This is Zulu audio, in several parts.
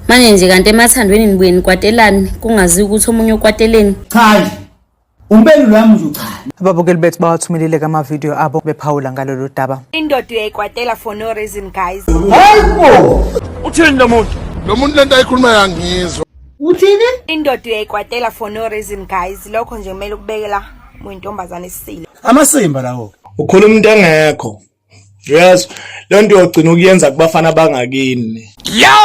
manje nje kanti emathandweni nibuye nikwatelani kungazi ukuthi omunye ukwateleni cha nje umbelulo wami nje cha ababukeli bethu bawathumelile kamavidiyo abo bephawula ngalolu daba indoda uyayikwatela for no reason guys hayibo uthini lo muntu lo muntu lento ayikhuluma yangizwa uthini indoda uyayikwatela for no reason guys lokho nje kumele ukubekela muyintombazane isile amasimba lawo ukhuluma into engekho yes le nto yogcina ukuyenza kubafana bangakini ya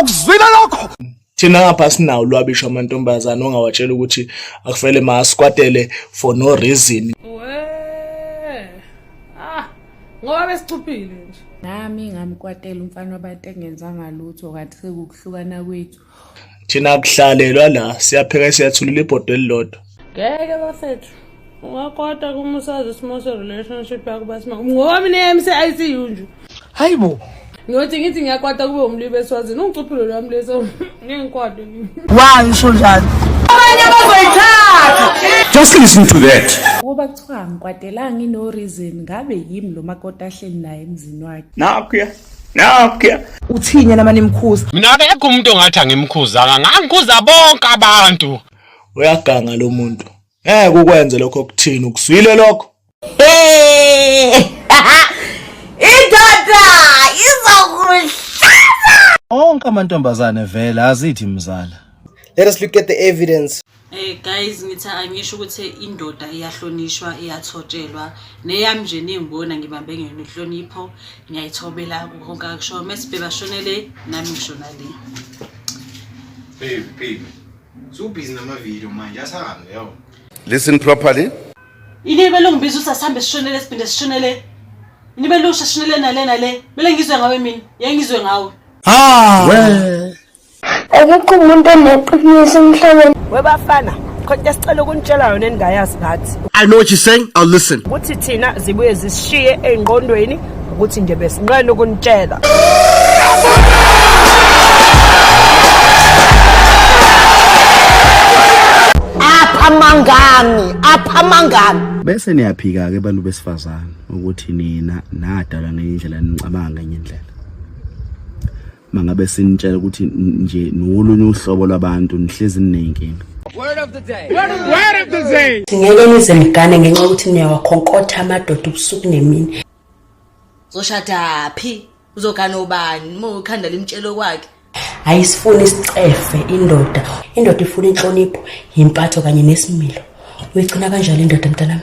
ukuzwile lokho thina ngapha sinawo lwabisho amantombazane ongawatshela ukuthi akufele masikwatele for no reason ah, ngoba besicuphile nje nami ngamkwatela umfana wabantu engenzanga lutho kanti sekukuhlukana kwethu thina kuhlalelwa la siyapheka siyathulula ibhodo elilodwa ngeke bafethu ungakota kumusazi isimo se-relationship yakho basima ngoba mina emse-icu nje hayi bo ngiyothi ngithi ngiyakwata kube umlibe eswazini ungicuphilo lwami leso ngingikwade wayo usho njalo abanye abazoyithatha just listen to that ukuba kuthiwa ngikwadelanga ino reason ngabe yimi lo makoti ahleli naye emzini wakhe nakho Nakya. Uthini yena mani mkhuza? Mina akekho umuntu ongathi angimkhuzanga, ngangikhuza bonke abantu. Uyaganga lo muntu. Ngeke ukwenze lokho okuthini, ukuzwile lokho? Hey! Indoda izokuhlaza. Onke amantombazane vele azithi mzala. Let us look at the evidence. Eh guys ngithi angisho ukuthi indoda iyahlonishwa iyathotshelwa neyami nje ningibona ngibambe ngene inhlonipho ngiyayithobela konke akusho mesibheba shonele nami ngishona le baby baby so busy nama video manje asahambe yo listen properly ini belongibiza ukuthi asihambe sishonele siphinde sishonele ini belusha sishonele nale nale bele ngizwe ngawe mina yengizwe ngawe ah well. Akekho umuntu oneqiniso emhlabeni. Webafana, khona sicela ukunitshela yona eningayazi ngathi. I know what you're saying. I'll listen. Kuthi thina zibuye zisishiye eingqondweni ukuthi nje besinqena ukunitshela. Apha mangami, apha mangami. Bese niyaphika ke bantu besifazane ukuthi nina nadalwa ngenye indlela nicabanga ngenye indlela. mangabe sinitshela ukuthi nje nolunye uhlobo lwabantu nihlezi ninenkinga Word of the day. Word of the day. Word of the day. Ngeke nize nigane ngenxa ukuthi niyawakhonkotha amadoda ubusuku nemini. Zoshada phi? Uzogana ubani? Uma ukhanda limtshelo kwakhe. Ayisifuni isicefe indoda. Indoda ifuna inhlonipho, impatho kanye nesimilo. Uyigcina kanjalo indoda mntanami?